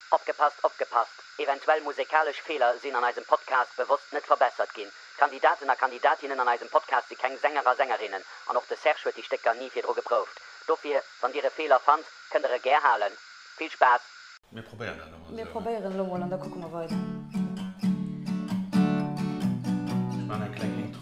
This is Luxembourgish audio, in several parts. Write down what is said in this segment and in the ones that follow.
Opgepasst, opgepasst, eventuell musekalesch Feeler sinn an eisem Podcast bewosst net verbessert ginn. D'Kandidaten a Kandidatinnen an eisem Podcast si keng Sänger a Sängerinnen an och de Serge huet déi Stécker ni virdru geprouft. Dofir, wann Dir e Feeler fannt, kënnt Der e gär halen. Vill Spaass! Mir probéieren dat elo mol esou, hä? Mir probéieren elo mol an da kucke mer weider. Ech maachen eng kleng Intro.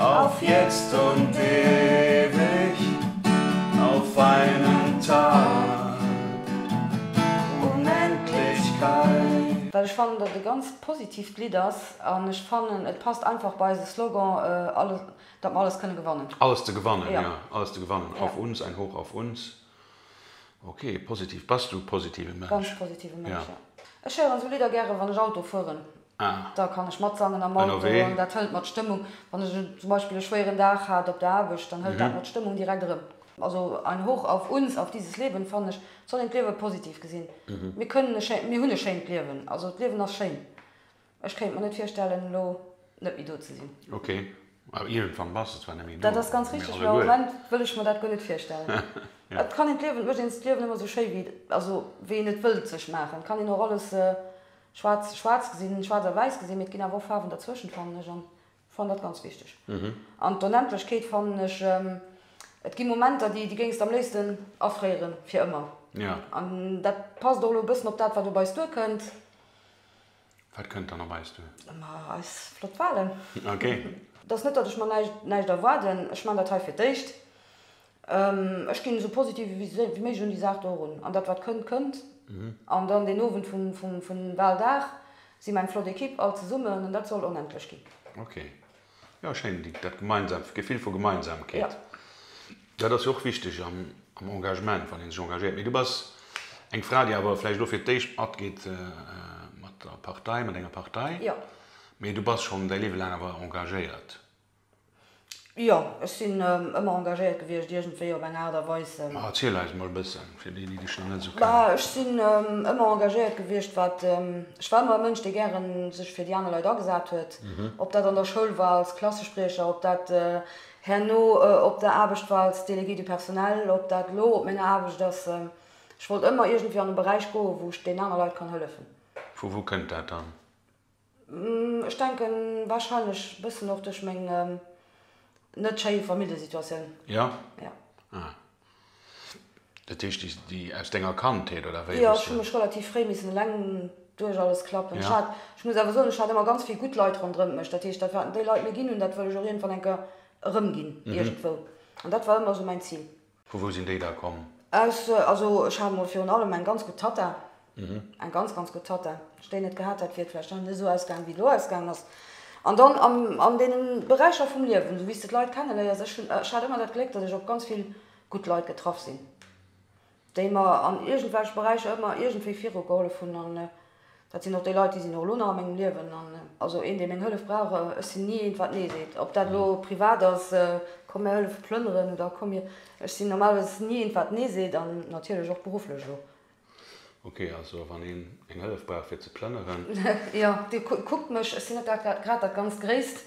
Auf jetzt und ewig auf einen Tag, Unendlichkeit. Well ech fannen datt e ganz positiivt Lidd ass an ech fannen et passt einfach bei eise Slogan alles datt mer alles kënne gewannen. Alles ze gewannen, jo alles ze gewannen. Auf uns, ein Hoch auf uns. Ok, positiv. Bass du e positive Mënsch? Ganz positive Mënsch, jo. Ech héieren esou Lidder gäre wann ech Auto fueren. Ah. Da kann ech matsangen am Auto Ënnerwee. an dat hëlt mer d'Stëmmung. Wann ech zum Beispill e schwéieren Dag hat op der Aarbecht, dann hëlt dat mer d'Stëmmung direkt erëm. Also ein Hoch auf uns, auf dieses Leben fannen ech, et soll een d'Liewe positiv gesinn. Mir kënnen e schéint, mir hunn e schéint Liewen. Also d'Liewen ass schéin. Ech kéint mer net virstellen elo net méi do ze sinn. Ok, awer iergendwann bass de zwar net méi do. Dat ass ganz richteg, mee am Moment wëll ech mer dat guer net virstellen. Et kann een d'Liewen, et mécht een d'Liewen ëmmer esou schéi wéi, also wéi een et wëllt sech maachen. Et kann een och alles Schwaarz, schwaarz gesinn, schwaarz a wäiss gesinn, mee et ginn awer och Faarwen derzwëschent, fannen ech, an fannen dat ganz wichteg. An d'Onendlechkeet fannen ech, et gi Momenter, déi déi géings de am léifsten afréieren, fir ëmmer. An dat passt och elo e bëssen op dat, wat op eis duerkënnt. Wat kënnt dann op eis duer? Ma eis flott Walen. Et ass net, datt ech mer näischt erwaarden. Ech man dat hei fir d'éischt. Ech ginn esou positiv ewéi méiglech un déi Saach do erun. An dat wat kënnt, kënnt. An dann deen Owend vum Waldag si mer eng flott Ekipp all zesummen an dat soll onendlech ginn. Ok, jo schéin, dat gemeinsam Gefill vu Gemeinsamkeet, dat ass jo och wichteg am Engagement, wann ee sech engagéiert. Mee du bass eng Fra, déi awer vläicht elo fir d'éischt matgeet mat der Partei, mat enger Partei, mee du bass schonn däi Liewe laang awer engagéiert. Jo, ech sinn ëmmer engagéiert gewiescht iergendwéi op eng Aart a Weis. Ma erziel eis emol e bëssen, fir déi, déi dech nach net esou kennen. Bah, ech sinn ëmmer engagéiert gewiescht, wat, ech war ëmmer e Mënsch, dee gäre sech fir déi aner Leit agesat huet. Ob dat an der Schoul war als Klassespriecher, ob dat herno op der Aarbecht war als Déléguée du personnel, ob dat elo op menger Aarbecht ass. Ech wollt ëmmer iergendwéi an e Beräich goen, wou ech deenen aner Leit kann hëllefen. Vu wou kënnt dat dann? Ech denken wahrscheinlech bessen och duerch meng net schéi Familljesituatioun. Jo? Jo. Ah. Dat heescht déi déi aus denger Kandheet oder wéi? Jo, ech hu mech relativ fréi missen eleng duerch alles klappen. Ech hat, ech muss awer soen, ech hat ëmmer ganz vill gutt Leit ronderëm mech. Dat heescht, dat wat déi Leit mir ginn hunn, dat wëll ech och iergendwann eng Kéier erëmginn iergendwou. An dat war ëmmer esou mäin Zil. Vu wou sinn déi da komm? S, Also ech hat mol virun allem eng ganz gutt Tatta, eng ganz, ganz gutt Tatta. Wa ech déi net gehat hätt, wier et vläicht net esou ausgaangen, wéi et elo ausgaangen ass. An dann an deene Beräicher vum Liewen, esou wéi s de d'Leit kenneléiers, ech hunn, ech hat ëmmer dat Gléck, datt ech op ganz vill gutt Leit getraff sinn, déi mer an iergendwelche Beräicher ëmmer iergendwéi virugehollef hunn. Dat sinn och déi Leit, déi sinn och elo nach a mengem Liewen. Also een, dee meng Hëllef brauch, ech sinn ni eent, wat nee seet. Ob dat elo privat ass, komm mir hëllefe plënneren oder komm mir, ech sinn normalerweis ni eent, wat nee seet an natierlech och berufflech elo. Ok, also wann een eng Hëllef brauch fir ze plënneren. Jo, Dir kuckt mech, ech sinn net grad dat ganz Gréisst.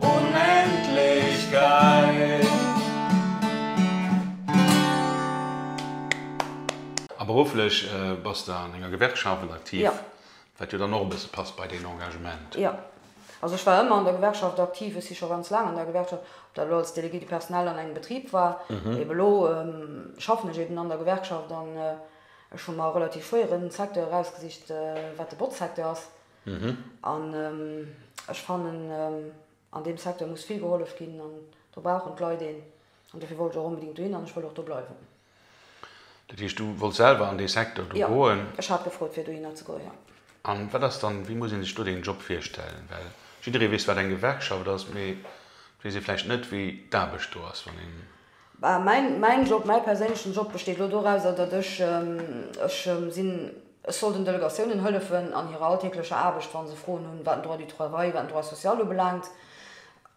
Unendlichkeit. A berufflech bass de an enger Gewerkschaft aktiv, wat jo dann och e bësse passt bei deen Engagement. Jo, also ech war ëmmer an der Gewerkschaft aktiv, ech si scho ganz laang an der Gewerkschaft, ob dat elo als Délégué du personnel an engem Betrib war, ebe elo schaffen ech eben an der Gewerkschaft an ech hu mer e relativ schwéieren Secteur erausgesicht, wat de Botzsecteur ass. An ech fannen, an deem Secteur muss vill gehollef ginn an do brauchen d'Leit een. An dofir wollt ech och onbedéngt dohin an ech wëll och do bleiwen. Dat heescht, du wolls selwer an dee Secteur do goen? Jo, ech hat gefrot, fir dohinner ze goen, jo. A wat ass dann, wéi muss ee sech do deen Job virstellen? Well jidderee weess, wat eng Gewerkschaft ass, mee et weess ee vläicht net, wéi d'Aarbecht do ass, wann een. Mäin Job, mäi perséinlechen Job besteet elo dorauser, datt ech ech sinn, ech soll den Delegatiounen hëllefen an hirer alltäglecher Aarbecht, wa se Froen hunn, wat den Droit du travail, wat den Droit social ubelaangt.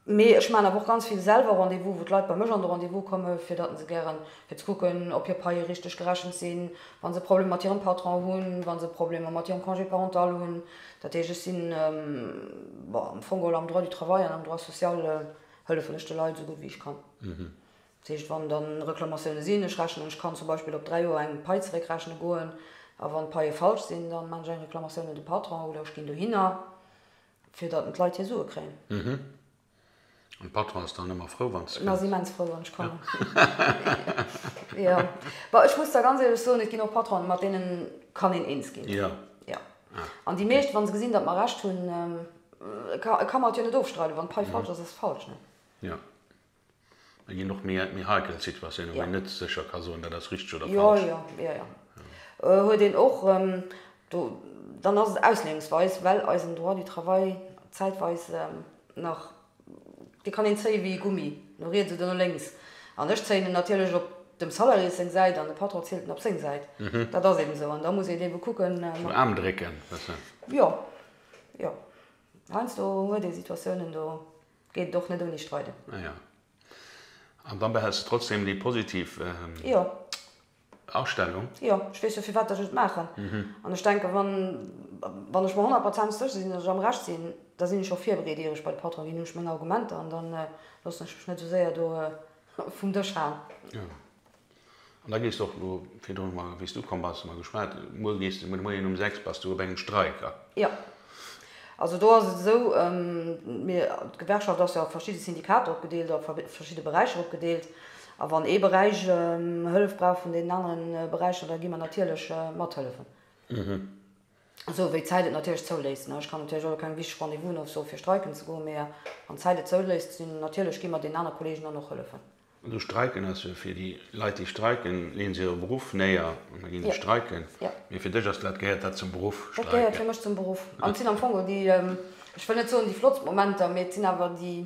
Mee ech maachen awer och ganz vill selwer Rendez-vous, wou d'Leit bei mech an de Rendez-vous komme fir datt se gären, fir ze kucken, ob hir Paie richteg gerechent sinn, wa se Problemer mat hirem Patron hunn, wa se Problemer mat hirem Congé parental hunn. Dat heescht, ech sinn, bon, am Fong geholl am Droit du travail an am Droit social. Hëllefen ech de Leit esou gutt wéi ech kann. Dat heescht, wann da Reklamatioune sinn, ech rechnen, ech kann zum Beispill op dräi Joer eng Pai zeréckrechne goen a wann d'Paie falsch sinn, da maachen ech eng Reklamatioun un de Patron oder ech ginn dohinner, fir datt d'Leit hir Sue kréien. An de Patron ass dann ëmmer frou, wann s de kënns? En ass immens frou, wann ech kommen. Jo. Bon, ech muss da ganz éierlech soen, et ginn och Patronen, mat deene kann een eens ginn. Jo. An déi meescht, wa se gesinn, datt mer Recht hunn, e ka mer et jo net ofstreiden, wann d'Pai falsch ass, ass se falsch, ne? Jo. Et ginn och méi heikel Situatiounen, wou een net sécher ka soen, dat ass richteg oder falsch. Jo, jo, jo, jo. Huet een och. Do, dann ass et Ausleeungsweis, well eisen Droit du travail zäitweis nach Dee kann een zéie wéi e Gummi, no riets oder no lénks. An ech zéien en natierlech op dem Salariés seng Säit an de Patron zielt en op seng Säit. Dat ass eben esou. An da muss een ebe kucken. Vum Aarm drécken, wësse. Jo, jo. Heiansdo huet ee Situatiounen, do geet et och net ouni Streiden. Ah ja. An da behälls de trotzdem déi positiv. Jo. Astellung? Jo, ech weess jo firwat ech et maachen. An ech denken, wann, wann ech mer honnertprozent sécher sinn, datt ech am Recht sinn, da sinn ech och virbereet, ier ech bei de Patron ginn, hunn ech meng Argumenter an da loossen ech mech net esou séier do vum Dësch haen. Jo. An da gees de och elo, virdrun mol, wéi s du komm bass, hu mer geschwat, muer gees de, muer de Moien um sechs bass du op engem Streik, a? Jo. Also do ass et esou, mir, d'Gewerkschaft ass jo a verschidde Syndikater opgedeelt, a verschidde Beräicher opgedeelt. A wann ee Beräich Hëllef brauch vun deenen anere Beräicher, da gi mer natierlech mathëllefen, esou wéi d'Zäit et natierlech zouléisst. Ech kann natierlech elo keng wichteg Rendez-vousen ofsoe fir streiken ze goen, mee wann d'Zäit et zouléisst, sinn natierlech, gi mer deenen anere Kolleegen dann och hëllefen. Esou streiken ass jo, fir déi Leit déi streiken, leeën se hire Beruff néier an da gi se streiken. Mee fir dech ass dat, gehéiert dat zum Beruff, streiken? Dat gehéiert fir mech zum Beruff an et sinn am Fong déi, ech wëll net soen déi flottst Momenter, mee et sinn awer déi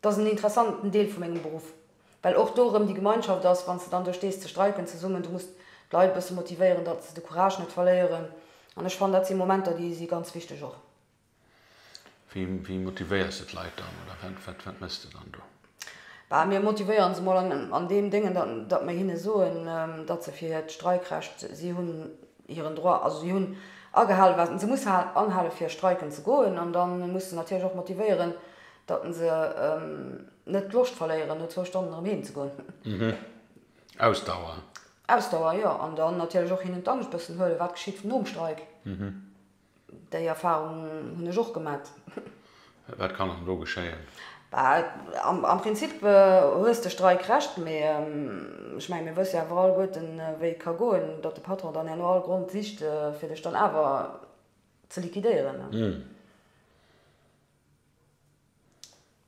Dat ass en interessanten Deel vu mengem Beruff, well och do erëm déi Gemeinschaft ass, wann s de dann do stees ze streiken zesummen. Du muss d'Leit e bësse motivéieren, datt se de Courage net verléieren. An ech fannen, dat si Momenter, déi si ganz wichteg och. Wéi motivéiers de d'Leit dann oder wat méchs de dann do? Bah, mir motivéiere se mol an deem Déngen, datt mir hinne soen, datt se fir hiert Streikrecht si hunn, hiren Droit, also si hunn agehalen, wat se musse anhalen, fir streiken ze goen, an da muss de natierlech och motivéieren, datt se net d'Loscht verléieren, no zwou Stonnen erëm heem ze goen. Ausdauer. Ausdauer, jo. An dann natierlech och hinnen d'Angscht bëssen huelen, wat geschitt nom Streik. Déi Erfahrung hunn ech och gemat. Wat kann dann elo geschéien? Am Prinzip hues de Streik Recht, mee ech mengen, mir wësse jo awer alleguerten, wéi et ka goen, datt de Patron dann herno all Grond sicht, fir dech dann awer ze liquidéieren.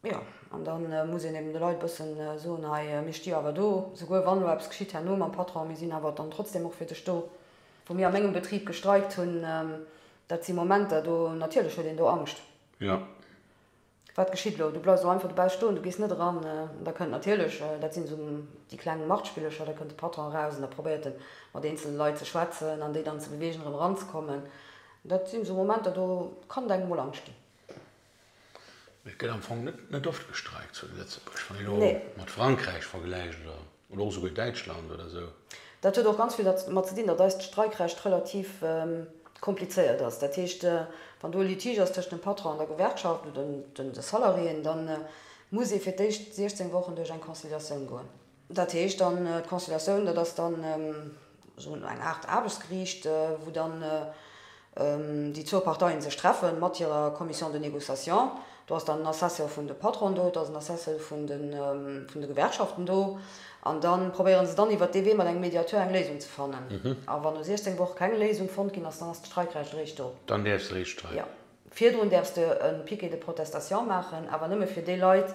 Jo, an da muss een eben de Leit e bësse soen, hei, mir sti awer do, souguer wann elo eppes geschitt herno mam Patron, mir sinn awer dann trotzdeem och fir dech do. Wou mir a mengem Betrib gestreikt hunn, dat si Momenter, do natierlech huet een do Angscht, jo, wat geschitt elo, du bleifs elo einfach dobauss stoen, du gees net eran. An da kënnt natierlech, dat sinn esou déi kleng Machtspillercher, da kënnt de Patron eraus an da probéiert e mat eenzele Leit ze schwätzen an déi dann ze bewegen, erëm eranzekommen. Dat sinn esou Momenter, do kann et engem emol Angscht ginn. Et gëtt am Fong net oft gestreikt zu Lëtzebuerg, wann een elo mat Frankräich vergläicht oder och souguer Däitschland oder esou. Dat huet och ganz vill dermat ze dinn, datt eist Streikrecht relativ komplizéiert ass. Dat heescht, wann do e Litige ass tëschent dem Patron an der Gewerkschaft oder de Salariéen, da muss ee fir d'éischt 16 Wochen duerch eng Conciliatioun goen. Dat heescht dann, d'Constellatioun, dat ass dann esou eng Aart Aarbechtsgeriicht, wou dann déi zwou Parteien sech treffen, mat hirer Commission de négociation. Do ass dann en Assessor vun de Patronen do, et ass en Assessor vun de Gewerkschaften do. An da probéiere se dann iwwert dee Wee mat engem Mediateur eng Léisung ze fannen. A wann no 16 Woch keng Léisung fonnt ginn ass, dann ass d'Streikrecht eréischt do. Dann däerfs de eréischt streiken? Jo. Virdrun däerfs de e Piquet de protestation maachen, awer nëmme fir déi Leit,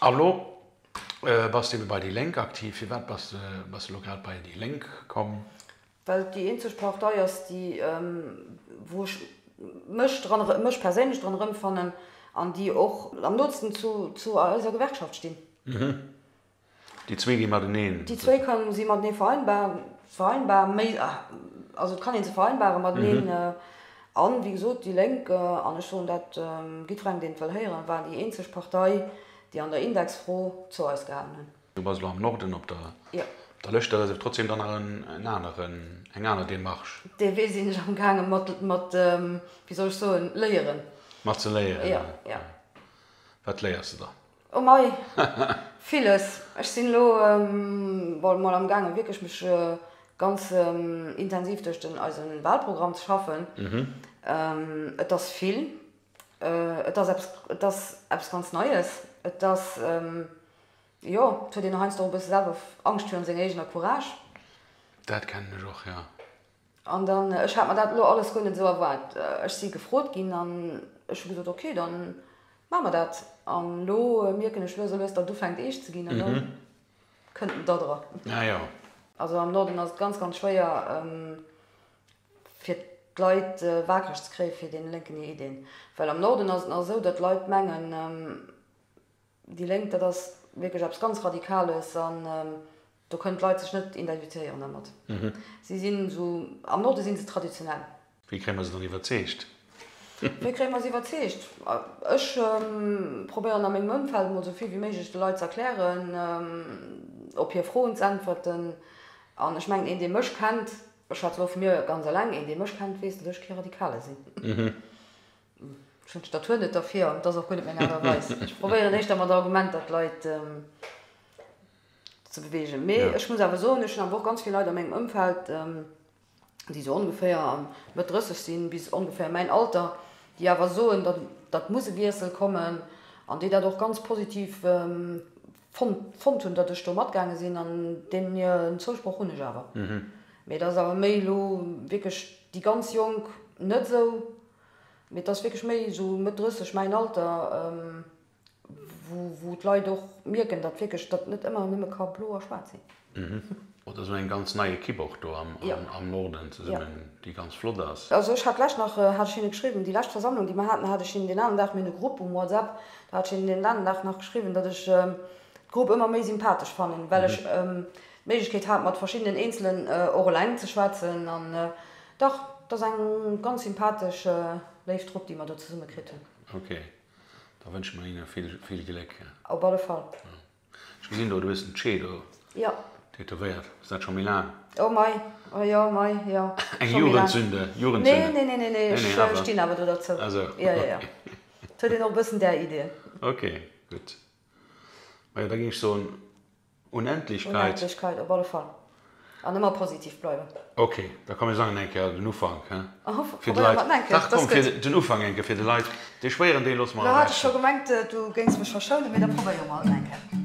A lo bass de ebe bei déi Lénk aktiv. Firwat bass de elo grad bei déi Lénk komm? Well et déi eenzeg Partei ass, déi, wou ech mech dran, mech perséinlech dran erëmfannen an déi och am nootsten zu eiser Gewerkschaft stinn. Déi zwee gi mateneen. Déi zwee kënnen si matenee vereinbar, vereinbar, méi, also et kann ee se vereinbaren mateneen. A wéi gesot, déi Lénk, an ech soen dat jiddwerengem, deen et wëll héieren, war déi eenzeg Partei, déi an der Indexfro zou eis gehalen hunn. Du bass elo am Norden op der Lëscht. Dat ass awer trotzdeem dann nach en aneren, eng aner Démarche. Dee Wee sinn ech amgaange mat, wéi soll ech soen, léieren. Mat ze léieren? Jo. Wat léiers de dann? Oh mei, villes. Ech sinn elo mol am gaangen wierklech mech ganz intensiv duerch den eise Wahlprogramm ze schaffen. Et ass vill, et ass eppes, et ass eppes ganz Neies. Et ass, jo, et huet een heiansdo och e bësse selwer Angscht virun seng eegener Courage. Dat kennen ech och, jo. An dann, ech hat mer dat elo alles guer net esou erwaart, ech si gefrot ginn an ech hu gesot, ok, da maache mer dat. An elo mierken ech lues a lues, datt et ufänkt eescht ze ginn an da kënnt en da dra. Also am Norden ass et ganz, ganz schwéier, fir d'Leit wakereg ze kréie fir dee lénken Ideen. Well am Norden ass et nach esou, datt d'Leit mengen, Déi Lénk, dat ass wierklech eppes ganz Radikales an do kënnen d'Leit sech net identifiéieren dermat. Si sinn esou, am Norde si se traditionell. Wéi kréie mer se dann iwwerzeegt? Wéi kréie mer se iwwerzeegt? Ech probéieren a mengem Ëmfeld emol esou vill wéi méiglech de Leit ze erklären, op hir Froen z'äntwerten. An ech mengen, een dee mech kennt, ech schwätze elo vu mir ganz eleng, een dee mech kennt, weess, datt ech kee Radikale sinn. Ech hunn d'Statur net derfir an et ass och guer net meng Aart a Weis. Ech probéieren éischter mat Argumenter d'Leit ze beweegen. Mee ech muss awer soen, ech hunn awer och ganz vill Leit a mengem Ëmfeld, déi esou ongeféier Mëtt 30 sinn, bis ongeféier mäin Alter, déi awer soen, datt muss e Wiessel kommen an déi dat och ganz positiv fonnt hunn, datt ech do matgaange sinn. An deenen hiren Zousproch hunn ech awer. Mee dat ass awer méi elo wierklech déi ganz Jonk net esou. Mee et ass wierklech méi esou Mëtt 30, mäin Alter, wou d'Leit och mierken, datt wierklech datt net ëmmer nëmme ka blo a schwaarz sinn. Oder esou eng ganz nei Ekipp och do am Norden zesummen, déi ganz flott ass. Also ech hat lech nach, hat ech hinne geschriwwen, déi lescht Versammlung, déi mer haten, hat ech hinnen deen alen Dag, mir hunn e Grupp um WhatsApp, do hat ech hinnen deen alen Dag nach geschriwwen, datt ech d'Grupp ëmmer méi sympathesch fannen, well ech d'Méiglechkeet hat mat verschiddenen Eenzelen och eleng ze schwätzen. Dach, et ass eng ganz sympathesch, léif Trupp, déi mer do zesumme kritt hunn. Ok, da wënsche mer hinne vill Gléck. Op alle Fall. Ech gesinn do, du hues den Che do tätowéiert. Ass dat scho méi laang? Oh mei, jo, mei, jo. Eng Jugendsünde? Nee, nee, nee, nee, ech stinn awer do derzou. Ah sou. Jo, jo, jo. Et huet een och e bëssen där Idee. Ok, gutt. Majo, da géing ech soen, Unendlichkeit. Unendlichkeit, op alle Fall. An ëmmer positiv bleiwen. Ok, da komm mir sangen eng Kéier den Ufank, hä? Fir de Leit. Dach komm, fir den Ufank eng Kéier fir de Leit. Dee schwéieren Deel loosse mer ewech. Lo hat ech scho gemengt, du géings mech verschounen, mee da probéiere mer et eng Kéier.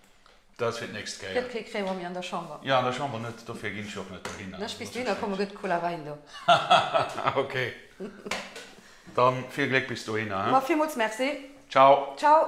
Dat ass fir d'nächst Kéier. Gëtt kee Crémeau méi an der Chamber. Jo, an der Chamber net, dofir ginn ech och net dohinner. Lech bis dohinner kommen, gëtt Cola Wäin do. Ok. Dann vill Gléck bis dohinner, he? Ma villmools Merci. Ciao. Ciao.